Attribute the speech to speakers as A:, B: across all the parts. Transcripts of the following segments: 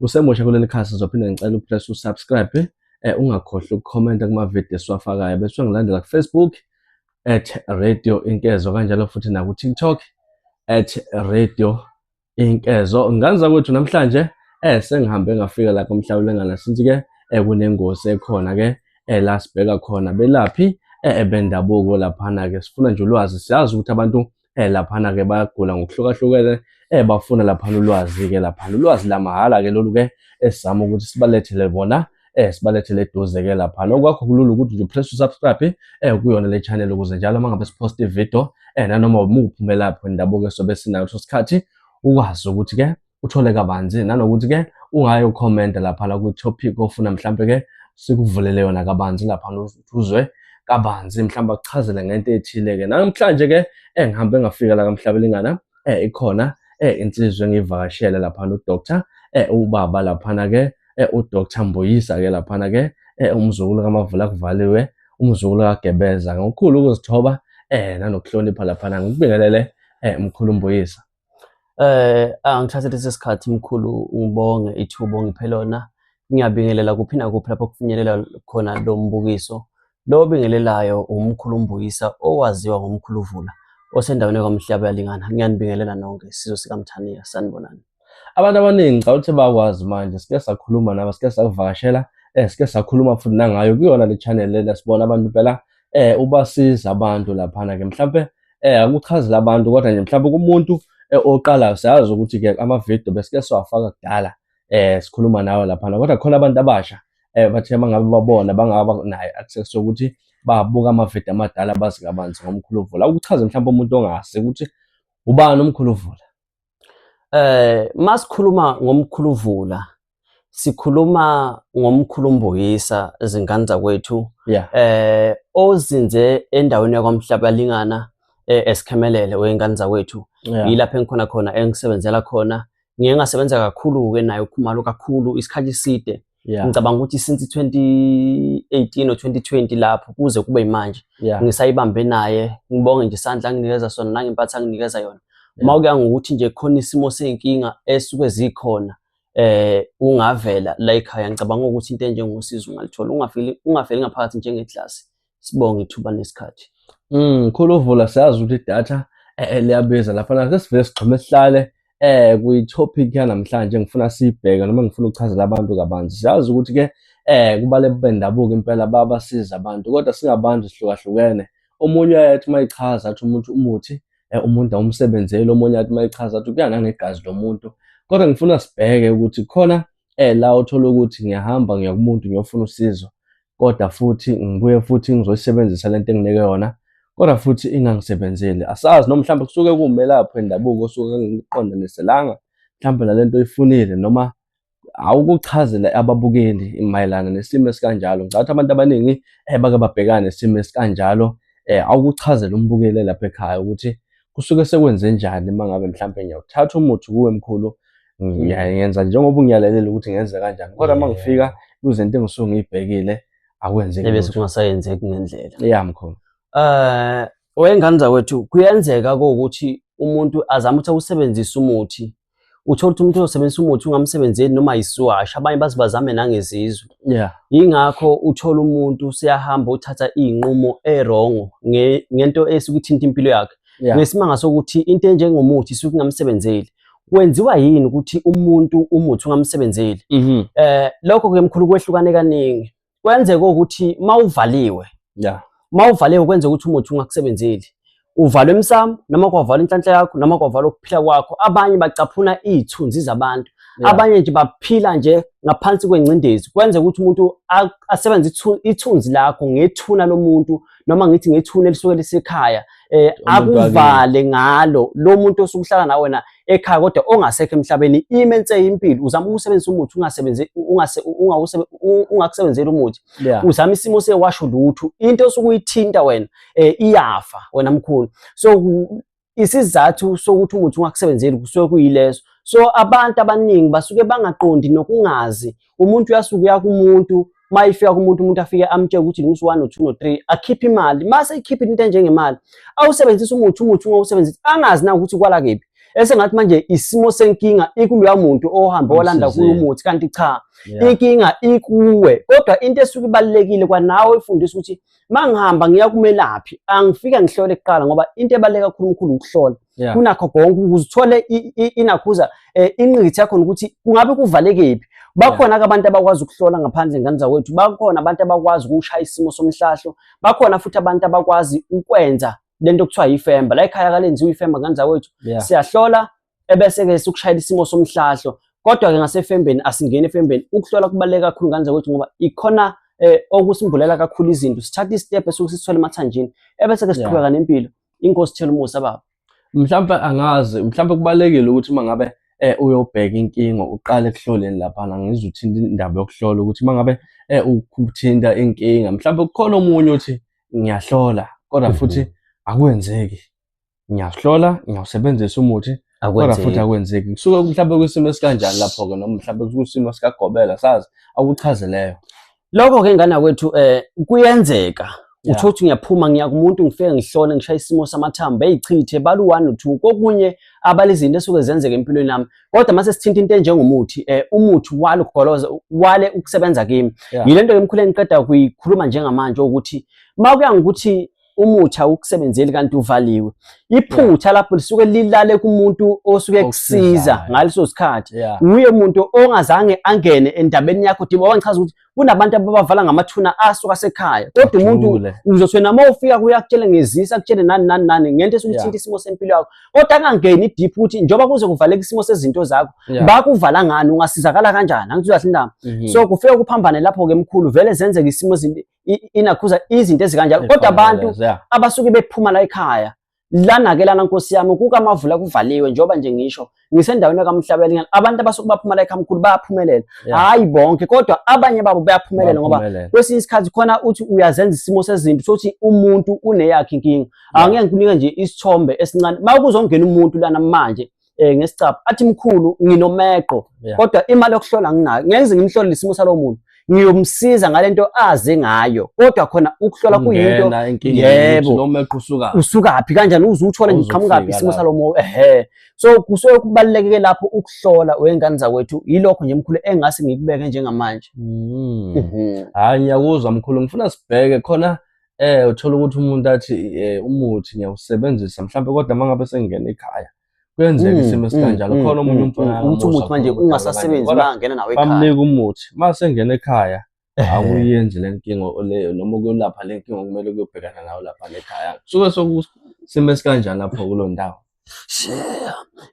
A: Usemusha kuleli khasi zophinde ngicela upress usubscribe eh ungakhohlwa ukukhomenta kuma video esiwafakayo bese ungilandela ku Facebook at radio inkezo kanjalo futhi na ku TikTok at radio inkezo nganza kwethu namhlanje eh sengihambe ngafika la komhlawulengana since ke eh kunengozi ekhona ke eh la sibheka khona belaphi eh bendabuko laphana ke sifuna nje ulwazi siyazi ukuthi abantu eh laphana ke bayagula ngokuhlukahlukene eh bafuna laphana ulwazi ke laphana ulwazi lamahhala ke lolu ke esizama ukuthi sibalethele bona eh sibalethele eduze ke lapha nokwakho kulula ukuthi nje press subscribe eh kuyona le channel ukuze njalo mangabe sipost ivideo eh nanoma umuphumela lapho indabuko sobe sinayo so sikhathi ukwazi ukuthi ke uthole kabanzi nanokuthi ke ungayo comment lapha la ku topic ofuna mhlambe ke sikuvulele yona kabanzi lapha uzwe kabanzi mhlawumbe akuchazele ngento ethile ke namhlanje ke engihambe ngafika la kamhlabelingana eh ikhona eh insizwe ngivakashele lapha no doctor eh ubaba laphana ke eh u doctor Mbuyisa ke laphana ke eh umzukulu kamavula kuvaliwe umzukulu kagebeza ngokukhulu ukuzithoba eh nanokuhlonipha laphana ngikubingelele eh mkhulu Mbuyisa Eh
B: angithathe lesi sikhathi mkhulu ngibonge ithubo ngiphe lona. Ngiyabingelela kuphi nakuphi lapho kufinyelela khona lo mbukiso. Lo obingelelayo umkhulu Mbuyisa owaziwa ngomkhulu Vula osendaweni yaKwaMhlaba yalingana. Ngiyanibingelela nonke isizwe sikaMthaniya sanibonani. Abantu abaningi
A: ngicabanga ukuthi bakwazi manje sike sakhuluma nabo sike sakuvakashela eh sike sakhuluma futhi nangayo kuyona le channel lena sibona abantu phela eh ubasiza abantu laphana ke mhlambe eh akuchazile abantu kodwa nje mhlawumbe kumuntu eh, oqalayo siyazi ukuthi ke ama video besike siwafaka kudala eh sikhuluma nawe lapha kodwa khona abantu abasha eh bathe mangabe babona bangaba naye access ukuthi babuka ama video amadala bazi kabanzi ngomkhuluvula ukuchaze mhlawumbe umuntu ongazi ukuthi ubani umkhuluvula eh
B: masikhuluma ngomkhuluvula sikhuluma ngomkhulumbuyisa izingane zakwethu yeah. eh ozinze endaweni yakwamhlabalingana eh, esikhemelele wengane zakwethu yeah. yilapho engikhona khona engisebenzela khona ngiye ngasebenza kakhulu-ke naye ukhumalo kakhulu isikhathi eside yeah. ngicabanga ukuthi since 2018 or 2020 lapho kuze kube yimanje yeah. ngisayibambe naye ngibonge nje isandla anginikeza sona nangempatha anginikeza yona yeah. uma kuya ngokuthi nje khona isimo seyinkinga esuke zikhona eh ungavela la ekhaya ngicabanga ukuthi into enjengosizo ungalithola ungafeli ungafeli ngaphakathi njengeglass sibonge ithuba nesikhathi mm khulu
A: vula siyazi ukuthi idatha eh, eh, liyabiza lapha na sesivele sigxume sihlale eh kuyi topic yanamhlanje ngifuna siyibheke noma ngifuna ukuchazela abantu kabanzi siyazi ukuthi ke eh kubale bendabuko impela babasiza abantu kodwa singabantu sihlukahlukene omunye uyayethi mayichaza athi umuntu umuthi eh, umuntu awumsebenzeli omunye athi mayichaza athi kuyana ngegazi lomuntu kodwa ngifuna sibheke ukuthi khona eh la uthola ukuthi ngiyahamba ngiya kumuntu ngiyofuna usizo kodwa futhi ngibuye futhi ngizoyisebenzisa le nto enginike yona kodwa futhi ingangisebenzeli asazi noma mhlawumbe kusuke kuwumelaphi wendabuko osuke engiqondaniselanga mhlawumbe nale nto oyifunile noma awukuchazela ababukeli mayelana nesimo esikanjalo ngicabanga ukuthi abantu abaningi eh, bake babhekane nesimo esikanjalo eh, awukuchazela umbukeli lapha ekhaya ukuthi kusuke sekwenze njani uma ngabe mhlawumbe ngiyawuthatha umuthi kuwe mkhulu ngiyenza njengoba ungiyalelele ukuthi ngenze kanjani kodwa uma ngifika kuzinto engisuke ngiyibhekile akwenzeki ebe sekungasayenzeki
B: ngendlela ya mkhulu
A: eh
B: wengane zakwethu kuyenzeka ukuthi umuntu azama ukuthi awusebenzise umuthi uthole ukuthi umuntu uyosebenzisa umuthi ungamsebenzeli noma yisiwasha abanye baze bazame nangezizwe yeah. yingakho uthole umuntu siyahamba uthatha iy'nqumo erongo ngento esukuthinta impilo yakhe yeah. ngesimanga sokuthi into enjengomuthi isuke ingamsebenzeli kwenziwa yini ukuthi umuntu umuthi ungamsebenzeli mm -hmm. eh lokho ke mkhulu kwehlukane kaningi kwenzeka ukuthi mawuvaliwe yeah mawuvaliwe kwenza ukuthi umuthi ungakusebenzeli uvala emsamo noma kwavala inhlanhla yakho noma kwavala ukuphila kwakho abanye bacaphuna izithunzi zabantu yeah. abanye nje baphila nje ngaphansi kwengcindezi kwenza ukuthi umuntu asebenze ithunzi lakho ngethuna lomuntu noma ngithi ngethuna elisuke lisekhaya eh akuvale ngalo lo muntu osukuhlala nawe wena ekhaya kodwa ongasekho emhlabeni imense impilo uzama ukusebenzisa umuthi ungasebenzi ungase ungakusebenzela umuthi uzama isimo sewasho lutho into osukuyithinta wena eh iyafa wena mkhulu so isizathu sokuthi umuthi ungakusebenzeli kusuke kuyileso so abantu abaningi basuke bangaqondi nokungazi umuntu uyasuke uya kumuntu uma ifika kumuntu umuntu afike amtshele ukuthi ngimuthi one no two no three akhiphe imali uma seyikhiphe into enjengemali awusebenzisa umuthi umuthi ungawusebenzisa angazi na ukuthi kwala kephi esengathi manje isimo senkinga ikuloya muntu ohambe walanda kuyo umuthi kanti cha inkinga ikuwe kodwa into esuke ibalekile kwanawe ifundisa ukuthi mangihamba ngiya kumelaphi angifike ngihlole kuqala ngoba into ebaluleke kakhulu umkhulu ukuhlola yeah. kunakho konke ukuze uthole inakhuza eh, inqithi yakhona ukuthi kungabe kuvalekephi bakhona yeah. abantu abakwazi ukuhlola ngaphandle ngane zakwethu bakhona abantu abakwazi ukushaya isimo somhlahlo bakhona futhi abantu abakwazi ukwenza lento kuthiwa yifemba la ekhaya kalenziwa ifemba ngane zakwethu yeah. siyahlola ebese-ke sukushayela isimo somhlahlo kodwa-ke ngasefembeni asingeni efembeni ukuhlola kubaluleke kakhulu ngane zakwethu ngoba ikhona um okusimbulela kakhulu izinto sithatha isitepe esuke sisithole emathanjini ebese-ke siqhubeka nempilo inkosi thela umusa baba mhlawumpe
A: angazi mhlawumpe kubalulekile ukuthi uma ngabe eh uyobheka inkinga uqale ekuhloleni laphana ngizwe uthinta indaba yokuhlola ukuthi uma ngabe eh ukuthinta inkinga mhlawumbe kukhona omunye uthi ngiyahlola kodwa mhm. futhi akwenzeki ngiyahlola ngiyawusebenzisa umuthi kodwa futhi akwenzeki kusuke mhlawumbe kwisimo esikanjani lapho-ke noma mhlawumbe kwisimo sikagobela sazi akuchazeleyo lokho-ke
B: ngana kwethu um eh, kuyenzeka utho ukuthi ngiyaphuma ngiya kumuntu ngifike ngihlole ngishaye isimo samathambo eyichithe bala u-one no-two kokunye abala izinto esuke zenzeka empilweni yami kodwa mase sithinta into enjengomuthi um umuthi wale ukugoloza wale ukusebenza kimi yile nto ke mkhulu engiqeda kuyikhuluma njengamanje ukuthi uma kuya ngokuthi umuthi awukusebenzeli kanti uvaliwe iphutha lapho lisuke lilale kumuntu osuke kusiza ngaleso sikhathi uye umuntu ongazange angene endabeni yakho diba wangichaza ukuthi kunabantu ababavala ngamathuna asuka sekhaya kodwa umuntu uzothi wena uma ufika kuye akutshele ngezisa akutshele nani nani nani ngento esukuthinta isimo sempilo yakho kodwa angangeni deep ukuthi njengoba kuze kuvaleka isimo sezinto zakho bakuvala ngani ungasizakala kanjani angithi uyahlindama mhm. so kufike kuphambanele lapho-ke mkhulu vele zenzeke isimo inakhuza izinto ezikanjalo kodwa abantu abasuke bephuma la ekhaya lana-ke lana nkosi yami kukamavula kuvaliwe njengoba nje ngisho ngisendaweni yakamhlabelingana abantu abasuke baphuma la ekhamkhulu bayaphumelela hhayi yeah. bonke kodwa abanye babo bayaphumelela ngoba kwesinye isikhathi khona uthi uyazenza isimo sezinto sokuthi umuntu uneyakhe inkinga yeah. angeke ngikunike nje isithombe esincane uma kuzongena umuntu lana manje eh ngesicapha athi mkhulu nginomeqo yeah. kodwa imali yokuhlola nginayo ngeke ngimhlole isimo salowo muntu ngiyomsiza ngalento azi ngayo kodwa khona ukuhlola kuyinto yebo nomeqo usuka
A: usuka phi kanjani
B: uzuthole ngiqhamuka phi isimo salomo ehe so kusuke kubalekeke lapho ukuhlola wengane zakwethu yilokho nje mkhulu engase ngikubeke njengamanje mm.
A: mhm. hayi ngiyakuzwa mkhulu ngifuna sibheke khona eh uthola ukuthi umuntu athi eh, umuthi ngiyawusebenzisa mhlawumbe kodwa mangabe sengingena ekhaya kuyenzeka mm, isimo esikanjalo mm, khona omunye mm, umfana ukuthi umuthi manje
B: ungasasebenzi bangena nawe ekhaya bamnika umuthi mase
A: ngena ekhaya akuyenzi lenkingo leyo noma kuyolapha lenkingo kumele kuyobhekana nayo lapha lekhaya suke sokusimo esikanjani lapho kulondawo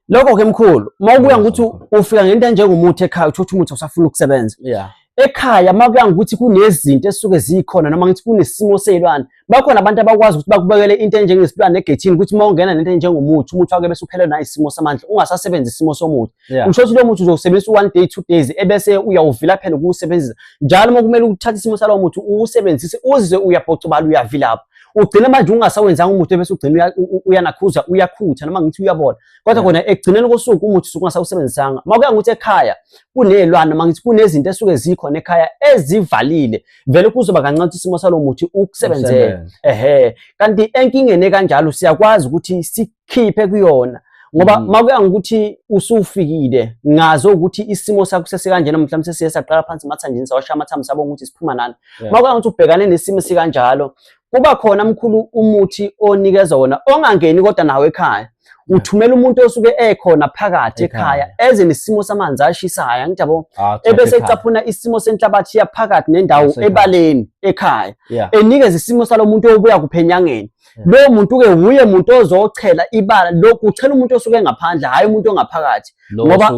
B: lokho ke mkhulu uma ukuya ngokuthi ufika ngento enjengomuthi ekhaya uthola ukuthi umuthi usafuna ukusebenza yeah ekhaya uma kuya ngokuthi kunezinto esuke zikhona noma ngithi kunesimo seyilwane bakhona abantu abakwazi ukuthi bakubekele into enjengesilwane egethini ukuthi uma ungena nento enjengomuthi umuthi wake bese uphelelwe nayisimo samandla ungasasebenzi isimo somuthi yeah. usho ukuthi lo muthi uzowusebenzisa one day two days ebese uyawuvila phela ukuwusebenzisa njalo uma kumele uthathe isimo salowo muthi uwusebenzise uze uyabhocobala uyavilapha ugcine manje ungasawenzanga umuthi bese ugcina uyanakhuza uyakhutha noma ngithi uyabola kodwa kona ekugcineni kosuku umuthi suke ungasawusebenzisanga uma kuya ngokuthi ekhaya kunezilwane noma ngithi kunezinto esuke zikhona ekhaya ezivalile vele kuzoba kancane ukuthi isimo salowo muthi ukusebenzele ehe kanti enkingeni ekanjalo siyakwazi ukuthi si ngikhiphe kuyona ngoba mm. makuya ngokuthi usufikile ngazo ukuthi isimo sakho sesikanjena mhlawumbe sesiye saqala phansi mathanjini sawasha amathambo sabonga ukuthi siphuma nani yeah. makuya ngokuthi ubhekane nesimo sikanjalo kuba khona mkhulu umuthi onikeza wona ongangeni kodwa nawe ekhaya uthumela umuntu osuke ekhona phakathi ekhaya eze nesimo samanzi ashisayo angithi yabo ah, ebese ecaphuna isimo senhlabathi yaphakathi nendawo ebaleni ekhaya enikeza isimo salomuntu obuya kuphenyangeni hmm. lowo muntu ke wuye muntu ozochela ibala lokhu uchela umuntu osuke engaphandle hayi umuntu ongaphakathi ngoba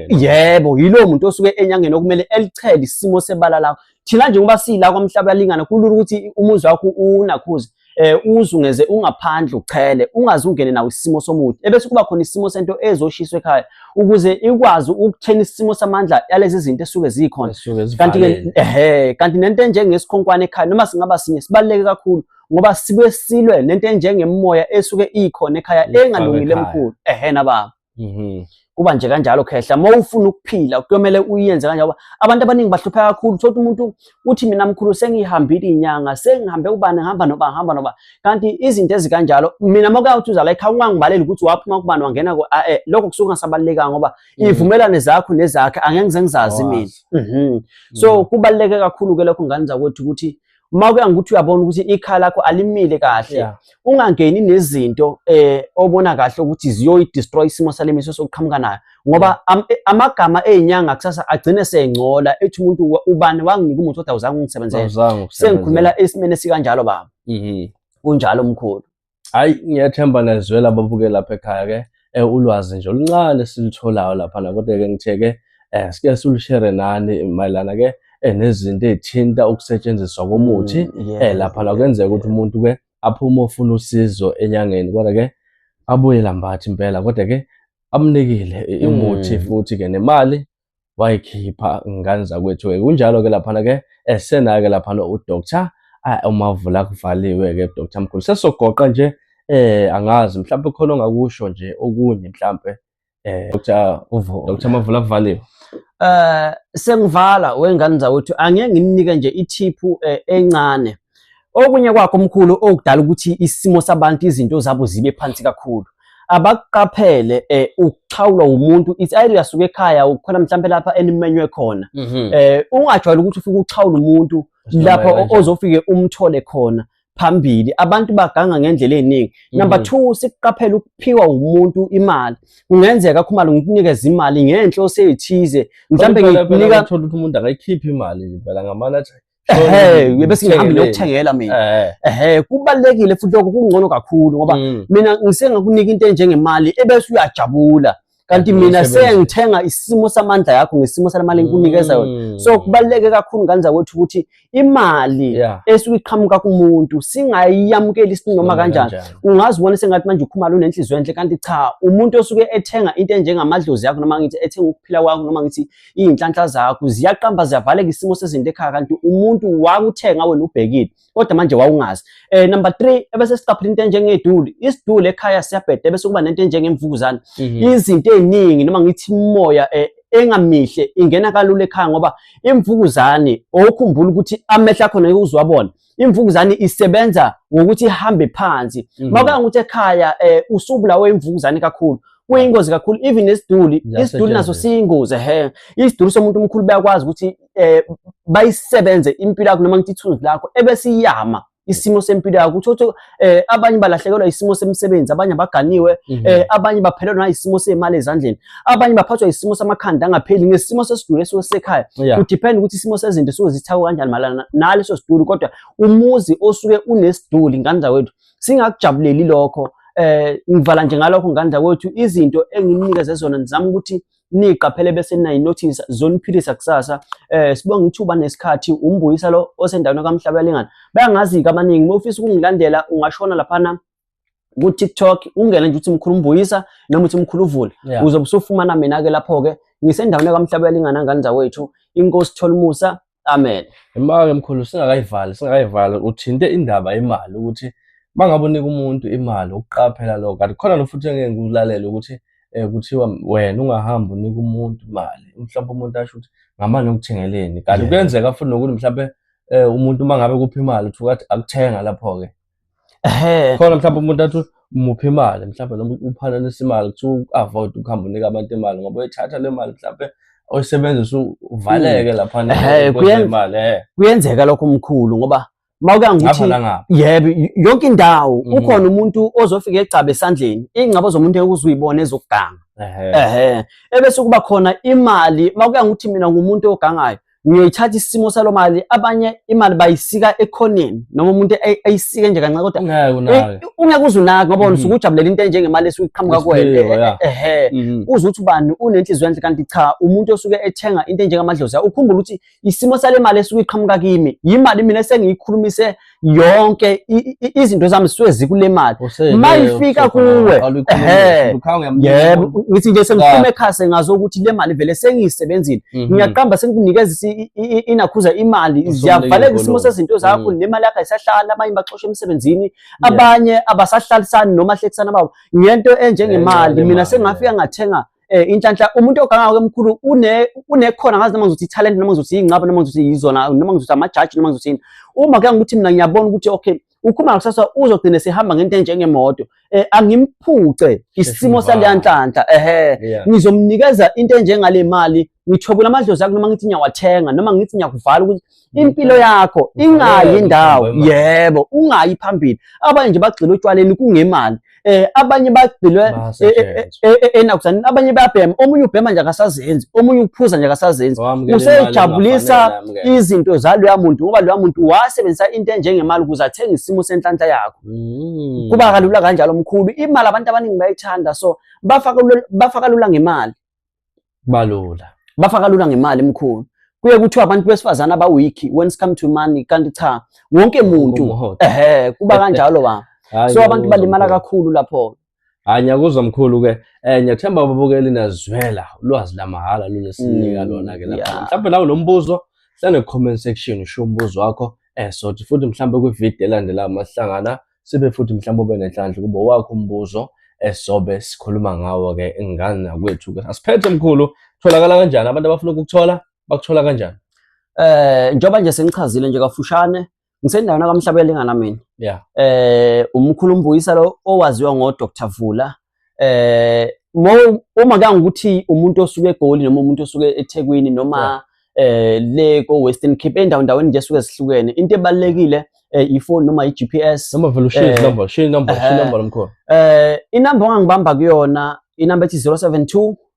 A: yebo
B: yilowo muntu osuke enyangeni okumele elichele isimo sebala lakho thina nje ngoba sila kwamhlaba yalingana kulula ukuthi umuzi wakho unakhuze eh uzungeze ungaphandle uchele ungaze ungene nawo isimo somuthi ebese kuba khona isimo sento ezoshiswa ekhaya ukuze ikwazi ukuthena isimo samandla yalezi zinto esuke zikhona kanti ke ehe kanti nento enjengesikhonkwane ekhaya noma singaba sinye sibaleke kakhulu ngoba sibuye silwe nento enjengemimoya esuke ikhona ekhaya engalungile emkhulu ehena baba mhm. kuba nje kanjalo khehla uma ufuna ukuphila kuyomele uyenze kanjalo abantu abaningi bahlupheka kakhulu thothi umuntu uthi mina mkhulu sengihambile inyanga sengihambe ubani ngihamba noba ngihamba noba kanti izinto ezikanjalo mina mokuyawuthi uza la ekhaya ungangibaleli ukuthi waphuma kubani wangena ku eh, eh, lokho kusuke kungasabalulekanga ngoba mm. ivumelane zakho nezakhe angeke ngize ngizazi mina mhm. so mm. kubaluleke kakhulu ke lokho ngane zakwethu ukuthi uma kuya ngokuthi uyabona ukuthi ikhala lakho alimile kahle yeah. ungangeni nezinto eh obona kahle ukuthi ziyoyi destroy isimo salemiso sokuqhamuka nayo ngoba yeah. am, eh, amagama ezinyanga kusasa agcine sengcola ethi umuntu ubani wanginika umuthi kodwa uzange ungisebenzele sengikhulumela esimene sikanjalo baba mhm kunjalo mkhulu hayi
A: ngiyethemba nezwela babuke lapha ekhaya ke eh, ulwazi nje oluncane silitholayo lapha na kodwa ke ngithe ke eh sike silushere nani mayelana ke eh, nezinto ezithinta ukusetshenziswa komuthi mm, yes, eh lapha la kwenzeka ukuthi umuntu ke aphume ofuna usizo enyangeni kodwa ke abuye lambathi impela kodwa ke amnikile imuthi mm. futhi ke nemali wayikhipha ngane zakwethu ke kunjalo ke laphana ke esena ke laphana udoctor umavula kuvaliwe ke doctor mkhulu sesogoqa nje eh angazi mhlawumbe khona ongakusho nje okunye mhlawumbe eh doctor uvo doctor mavula kuvaliwe eh sengivala
B: wengane zakwethu angeke nginike nje ithiphu eh, encane Okunye kwakho mkhulu okudala ukuthi isimo sabantu izinto zabo zibe phansi kakhulu abakuqaphele eh ukuxhawulwa umuntu ithi ayi uyasuka ekhaya ukhona mhlawumbe lapha enimenywe khona mhm. eh ungajwayela ukuthi ufike uxhawula umuntu lapha ozofike umthole khona phambili abantu baganga ngendlela eziningi mhm. number 2 sikuqaphela ukuphiwa umuntu imali kungenzeka khumalo ngikunikeza imali ngenhloso ezithize mhlambe ngikunika uthola ukuthi umuntu akayikhiphi
A: imali phela ngamalathi ehe bese
B: ngihamba ngiyokuthengela mina ehe kubalekile futhi lokho kungcono kakhulu ngoba mm. mina ngisengakunika into enjengemali ebese uyajabula kanti mina sengithenga isimo samandla yakho ngesimo salemali engikunikeza yona mm. so kubaluleke kakhulu ngane zakwethu ukuthi imali esuke iqhamuka kumuntu singayiyamukeli isini noma kanjani ungazibona sengathi manje ukhumalo unenhliziyo enhle kanti cha umuntu osuke ethenga into enjengamadlozi yakho noma ngithi ethenga ukuphila kwakho noma ngithi Iy'nhlanhla zakho ziyaqamba ziyavaleka isimo sezinto ekhaya kanti umuntu wakuthenga wena ubhekile kodwa manje wawungazi. Eh number 3 ebese siqaphela into enjengeduli. Isiduli ekhaya siyabheda bese kuba nento enjengemvukuzane. Mhm. Izinto eziningi noma ngithi imoya eh, engamihle ingena kalula ekhaya ngoba imvukuzane okukhumbula ukuthi amehla khona yokuzwabona imvukuzane isebenza ngokuthi ihambe phansi mm. makanga ukuthi ekhaya eh, usubulawe imvukuzane kakhulu kuyingozi kakhulu even nesiduli isiduli naso siyingozi he isiduli somuntu omkhulu bayakwazi ukuthi eh, bayisebenze impilo yakho noma ngithi ithunzi lakho ebesiyama isimo sempilo yakho uthi eh abanye balahlekelwa isimo semsebenzi abanye abaganiwe mhm. eh abanye baphelelwa isimo semali ezandleni abanye baphathwa isimo samakhanda angapheli ngesimo sesidulo esisekhaya kudepend ukuthi isimo sezinto suke zithawe kanjani malana naleso sidulo kodwa umuzi osuke unesiduli ngane zakwethu singakujabuleli lokho eh ngivala nje ngalokho ngandla kwethu izinto enginikeze zona nizama ukuthi niqaphele bese nayi notice zoniphilisa kusasa eh sibonga ithuba nesikhathi umbuyisa lo osendaweni kaMhlaba yalingana bayangazi kabaningi uma ufisa ukungilandela ungashona laphana ku-tiktok ungene nje uthi mkhulu umbuyisa noma uthi mkhulu uvula yeah. uzobe usufumana mina-ke lapho-ke ngisendaweni kamhlaba yalingana ngane zawethu inkosi tholumusa Amen. Imake mkhulu
A: singakayivali singakayivali uthinte indaba imali ukuthi mangabe unika umuntu imali ukuqaphela lokho kanti khona nofuthi engeke ngikulalela ukuthi eh kuthiwa wena ungahamba unika umuntu imali mhlawumbe umuntu asho ukuthi ngamane ukuthengeleni kanti kuyenzeka futhi nokuthi mhlawumbe eh umuntu mangabe kuphi imali uthuka athi akuthenga lapho ke ehe khona mhlawumbe umuntu athi umuphi imali mhlawumbe noma uphananisa imali kuthiwa u-avoid ukuhamba unika abantu imali ngoba uyithatha le mali mhlawumbe oyisebenzisa uvaleke laphana Ehhe, kwenza kuyen- imali eh kuyenzeka lokho
B: mkhulu ngoba uma uke ngapha angithi nangapha yebo y- yonke indawo Mhm. ukhona umuntu ozofika egcabe esandleni ingcabo zomuntu ekuzuyibona ezokuganga ehe ehe ebese kuba khona imali uma kuya ngokuthi mina ngumuntu ogangayo ngiyoyithatha isimo salo mali abanye imali bayisika ekhoneni noma umuntu ayisike nje kancane kodwa ungeke uze unake ngoba mhm. usuke ujabulela into enjengemali esuke iqhamuka kuwena eh, eh, eh, ehe mhm. uze uthi ubani unenhliziyo enhle kanti cha umuntu osuke ethenga into enjengamadlozi ukhumbula ukuthi isimo sale mali esuke iqhamuka kimi yimali mina esengiyikhulumise yonke izinto zami suke zikule mali mayifika kuwe yebo ngithi nje sengiphume ekhase ngazo ukuthi le mali vele sengiyisebenzile mhm. ngiyaqamba sengikunikeza inakhuza imali ziyavaleka isimo sezinto zakho mhm. nemali yakho ayisahlala abanye baxosha emsebenzini abanye abasahlalisani noma hlekisana babo ngento enjengemali mina sengafika ngathenga eh inhlanhla umuntu oganga ke mkhulu une unekhona ngazi noma ngizothi talent noma ngizothi ingcaba noma ngizothi yizona noma ngizothi ama judge noma ngizothi uma ke ngithi mina ngiyabona ukuthi okay ukhuma kusasa uzogcina sehamba ngento enjengemoto eh angimphuce isimo saleya nhlanhla ehe ngizomnikeza into enjengale mali ngithobula amadlozi akho noma ngithi ngiyawathenga noma ngithi ngiyakuvala ukuthi impilo yakho ingayi ndawo yebo ungayi phambili abanye nje bagxile utshwaleni kungemali eh abanye bagxilwe eh, eh, eh, enakuzani abanye bayabhema omunye ubhema nje akasazenzi omunye uphuza nje akasazenzi usejabulisa izinto zaloya muntu ngoba loya muntu wasebenzisa into enjengemali ukuze athenge isimo senhlanhla yakho mm. kuba kalula kanjalo mkhulu imali abantu abaningi bayithanda so bafaka bafaka lula ngemali balula bafa kalula ngemali mkhulu kuye kuthiwa abantu besifazane abawiki when it come to money kanti cha wonke muntu Umhotha. ehe kuba kanjalo ba Hhayi, so abantu ngiyakuzwa balimala mkhulu. kakhulu lapho Hhayi, ngiyakuzwa
A: mkhulu ke um ngiyathemba ababukeli nazwela ulwazi lamahhala lolesinika Mm, lona-ke lapha yeah. mhlawumbe nawe lo mbuzo hlale comment section usho umbuzo wakho um sothi futhi mhlawumbe kwividiyo elandelayo masihlangana sibe futhi mhlawumbe ube nenhlanhla ukuba wakho umbuzo esizobe sikhuluma ngawo-ke ngani nakwethu-ke asiphethe mkhulu tholakala kanjani abantu abafuna ukukuthola bakuthola kanjani eh njengoba
B: nje sengichazile nje kafushane ngisendaweni akamhlabela ingana mina yeah eh umkhulu umbuyisa lo owaziwa ngo Dr Vula eh uma kangukuthi umuntu osuke egoli noma umuntu osuke eThekwini noma eh le ko Western Cape endawo ndaweni nje suke zihlukene into ebalekile eh, ifoni noma iGPS noma vele ushiye eh, number
A: shiye number shiye number lomkhona eh inamba
B: ongangibamba kuyona inamba ethi 072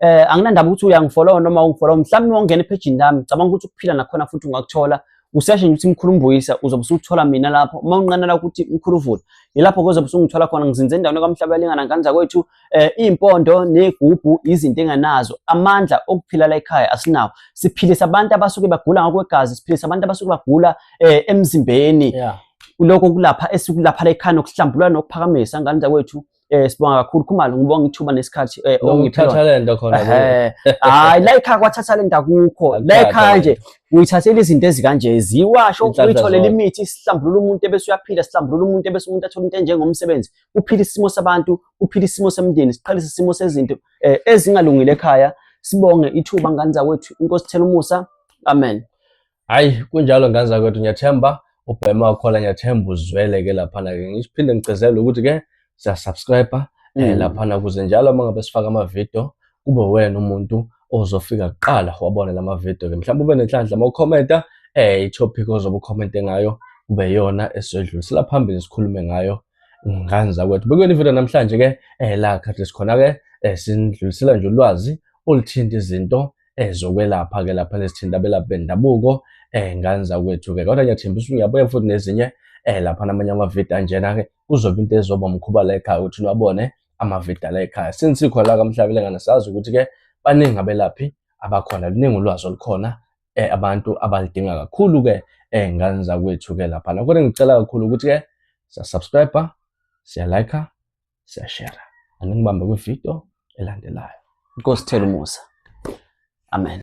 B: eh anginandaba ukuthi uyangifollowa noma ungifollowa mhlawumbe wangena ephejini lami cabanga ukuthi ukuphila nakhona futhi ungakuthola useshe nje ukuthi mkhulu mbuyisa uzobe usuthola mina lapho uma unqanela ukuthi mkhulu vula yilapho kuzobe usungithola khona ngizinze endaweni kwamhlaba elingana ngane zakwethu eh impondo negubhu izinto enganazo amandla okuphila la ekhaya asinawo siphilisa abantu abasuke bagula ngokwegazi siphilisa abantu abasuke bagula eh emzimbeni yeah. lokho kulapha esikulapha la ekhaya nokuhlambulula nokuphakamisa ngane zakwethu eh sibonga kakhulu khumalo ngibonga ithuba nesikhathi eh ongiphe lona. Ngithatha lento
A: khona. Eh hayi la
B: ikhaya kwathatha lento akukho. La ikhaya nje uyithathela izinto ezikanje ziwasho uyitholela imithi isihlambulula umuntu ebese uyaphila sihlambulula umuntu ebese umuntu athola into enjengomsebenzi uphila isimo sabantu uphila isimo semndeni siqalisa isimo sezinto eh, ezingalungile ekhaya sibonge ithuba ngane zakwethu inkosi thela umusa amen hayi
A: kunjalo ngane zakwethu ngiyathemba ubhema wakhona ngiyathemba uzwele ke laphana ke ngiphinde ngigcezele ukuthi ke siyasubscribe um eh, mm. laphana kuze njalo uma ngabe sifaka amavidiyo kube wena umuntu ozofika kuqala wabona la mavidiyo ke mhlawumbe ube nenhlanhla uma ukhomenta um eh, itopic ozobe ukhomente ngayo kube yona esizodlulisela phambili sikhulume ngayo ngane zakwethu bekuyona ividiyo namhlanje ke um la khathi sikhona ke um sinidlulisela nje ulwazi oluthinta izinto eh zokwelapha ke lapha lesithinta abelaphi bendabuko eh ngani zakwethu ke kodwa ngiyathemba ukuthi uyabuya futhi nezinye eh lapha namanye amavidiyo anjena ke kuzoba into ezoba mkhuba la ekhaya ukuthi nabone amavidiyo la ekhaya since sikho la kamhlabelengane sazi ukuthi ke baningi abelaphi abakhona luningi ulwazi olukhona eh abantu abalidinga kakhulu ke eh ngani zakwethu ke lapha kodwa ngicela kakhulu ukuthi ke sa subscribe siya like siyashera angikubambe kwividiyo elandelayo
B: inkosi
A: thela umusa
B: amen